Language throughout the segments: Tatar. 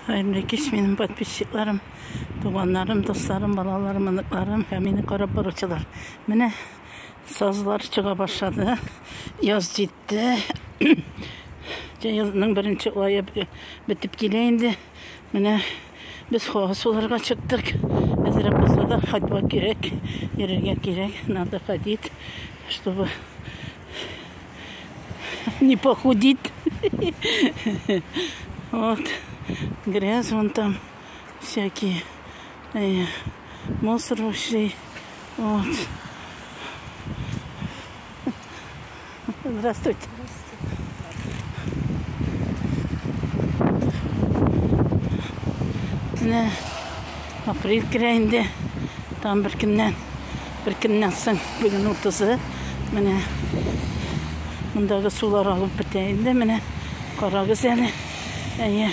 Хәерле кич минем подписчикларым, туганнарым, дусларым, балаларым, оныкларым һәм мине карап баручылар. Менә сазлар чыга башлады. Яз җитте. Язның беренче ае бетеп килә инде. Менә без хава суларга чыктык. Әзрәк булса да ходьба кирәк, йөрергә кирәк. Надо ходить, чтобы Не похудит. Вот. Грязь вон там. Всякие. Э, мусор вообще. Вот. Здравствуйте. Менә апрель керәенде. Там бер көннән Бер көннән соң бүген утызы, менә мондагы сулар агып бетә инде, менә карагыз әле. Әйе.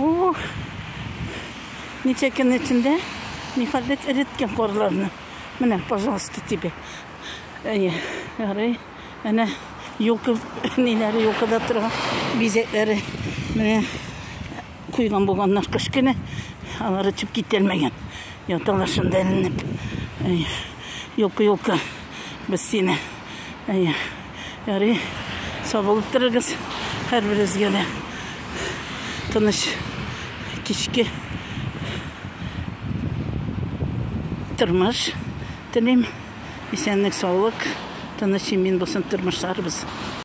Ух! Ничә көн эчендә нихәлдә эреткән карларны. Менә, пожалуйста, тебе. Әйе, ярый. Әнә юлка ниләре, юлкада торган бизәкләре. Менә Койган булганнар кыш көне. Алар өчеп кителмәгән. Яталар шунда эленеп. Юлка-юлка без сине. Ярый, сабылып торыгыз һәрберегезгә дә. Тыныч кичке тормыш телим. Исәнлек-саулык, тыныч имин булсын тормышларыбыз.